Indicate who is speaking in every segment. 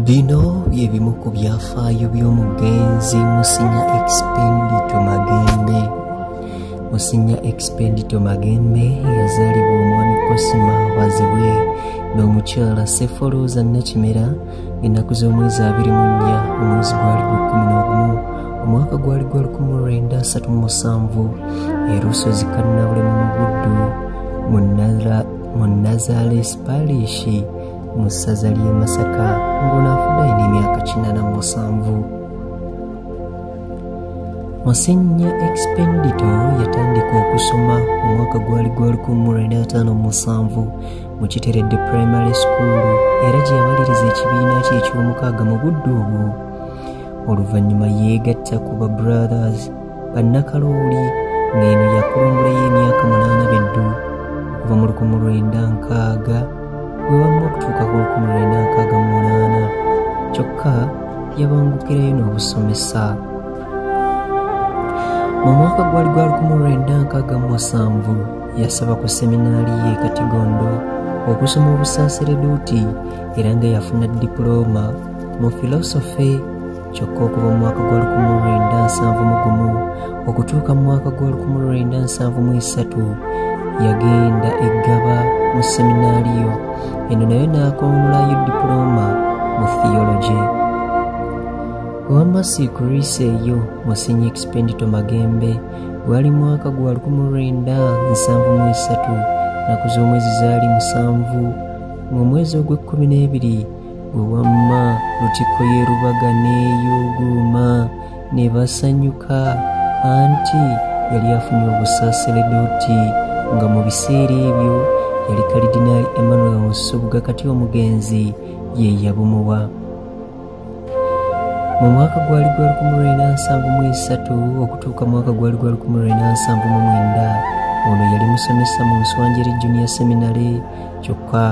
Speaker 1: bino bye bimu ku byafaayo by'omugenzi musinya expendito magembe musinya expendito magembe yazaalibwa omwami kosima bazibwe n'omukyala sefolooza nakimera ennaku z'omwezi abiri mu nnya omwezi gwali gwa kkumi n'ogumu omwaka gwali gwa lukumu lwenda asatu mu musanvu erusozi kannabulemu mu buddu mu nazales parishi mu ssaza ly'e masaka ng'ono afudde alina emyaka kinana mu musanvu musinnya expendito yatandika okusoma omwaka gwali gwa 1957 mu kiteredde primary school era gye yamaliriza ekibiina kye eky'omukaaga mu budde obwo oluvannyuma yeegatta ku ba brothers bannakalooli ng'eno yakulungulayo emyaka munaana beddu okuva mu lukumu lwenda nkaaga bwe wamma okutuuka ku lukumu lwenda nkaaga mu munaana kyokka yabangukirayo n'obusomesa mu mwaka gwali gwa lukumu lwenda nkaaga mu musanvu yasaba ku seminaali ye katigondo okusoma obusasereduuti era nga yafuna dipulooma mu filosofe kyokka okuva mu mwaka gw'olukumu lwenda nsanvu mu gumu okutuuka mu mwaka gw'olukumu lwenda nsanvu mu esatu yagenda eggaba mu seminaaliyo eno nayo n'akoonulayo dipulooma mu theology wamasi kurisa eyo musinyi expendito magembe gwali mwaka gwa lukumu lwenda nsanvu mu esatu naku z'omwezi zaali musanvu ng'omwezi ogw'ekkumi n'ebiri gwe wamma lutikko yerubaga neeyuuguuma ne basanyuka anti yali afunye obusaaseledooti nga mu biseera ebyo yali kalidinaali emmanuel nsubuga kati omugenzi ye yabumuwa mu mwaka gwali gwa 1973 okutuuka mwaka gwali gwa 1979 ono yali musomesa mu nswanjeri junior seminary kyokka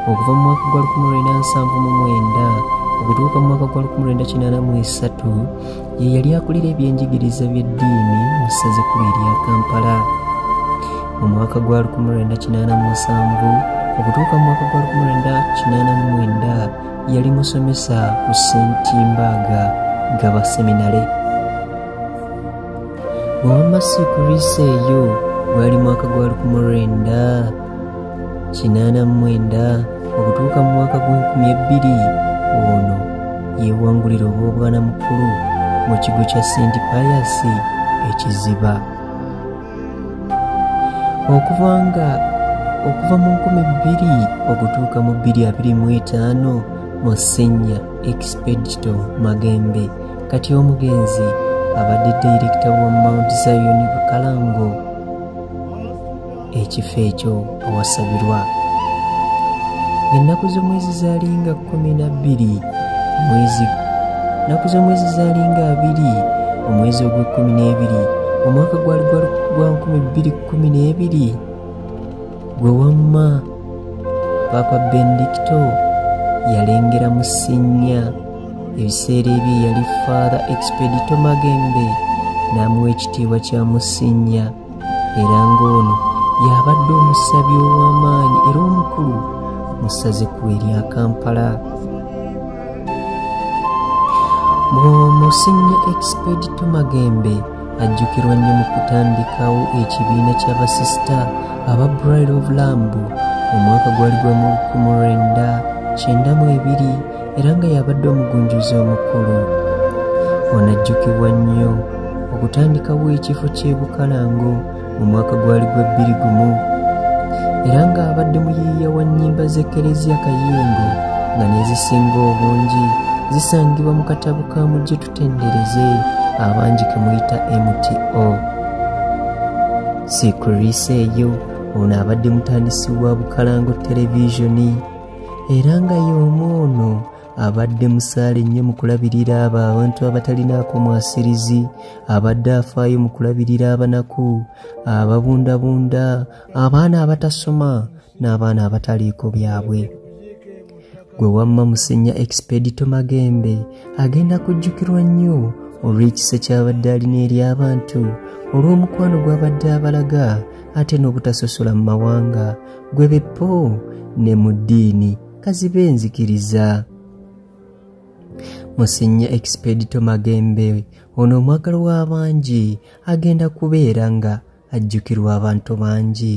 Speaker 1: okuva mu mwaka gwa 1979 okutuuka mu mwaka gwa 1983 ye yali akulira ebyenjigiriza by'eddiini mu ssaza ekkulu erya kampala mu mwaka gwa 1987 okutuuka mu mwaka gwa 1989 yali musomesa ku sentimbaga gaba seminale wamma siikuliisa eyo gwali mwaka gwa 19 kinaana mu mwenda okutuuka mu mwaka gw'enkumi ebbiri ono yeewangulira obw'obwana mukulu mu kigo kya senti payasi ekiziba okuva nga okuva mu nkumi bbiri okutuuka mu bbiri abiri mu etaano mu senya expedito magembe kati omugenzi abadde dayirekita wa mount zion bukalango ekifo ekyo awasabirwa ennaku z'omwezi zaalinga kkumi na bbiri omwezi ennaku z'omwezi zaalinga abiri omwezi ogw'ekkumi n'ebiri omwaka gwali gwa nkumi bbiri kkumi n'ebiri gwe wamma paapa bendikito yalengera mu sinnya ebiseera ebyo yali father expedito magembe n'amuwa ekitiibwa kya musinnya era ng'ono y'abadde omusabi ow'amaanyi era omukulu mu ssazeku erya kampala bwomusinya expedito magembe ajjukirwa nnyo mu kutandikawo ekibiina ky'abasisita aba bride of lamb omwaka gwali gwa mu 1992 era nga yabadde omugunjuzi omukulu onajjukibwa nnyo okutandikawo ekifo ky'ebukalango mu mwaka gwali gwa bbiri gumu era ng'abadde muyiiya wa nnyimba z'ekereziya kayingo nga nezisinga obungi zisangibwa mu katabo ka mujje tutendereze abangi ke muyita mto sikriisa eyo ono abadde mutandisi wa bukalango televisioni era nga y'omu ono abadde musaale nnyo mu kulabirira abo abantu abatalinaako mwasirizi abadde afaayo mu kulabirira abanaku ababundabunda abaana abatasoma n'abaana abataliiko byabwe gwe wamma musenya expedito magembe agenda kujjukirwa nnyo olw'ekisa ky'abadde alina eri abantu olw'omukwano gw'abadde abalaga ate n'obutasosola mu mawanga gwe beppo ne mu ddiini kazibe enzikiriza musinye expedito magembe ono omwagalo w'abangi agenda kubeera nga ajjukirwa abantu bangi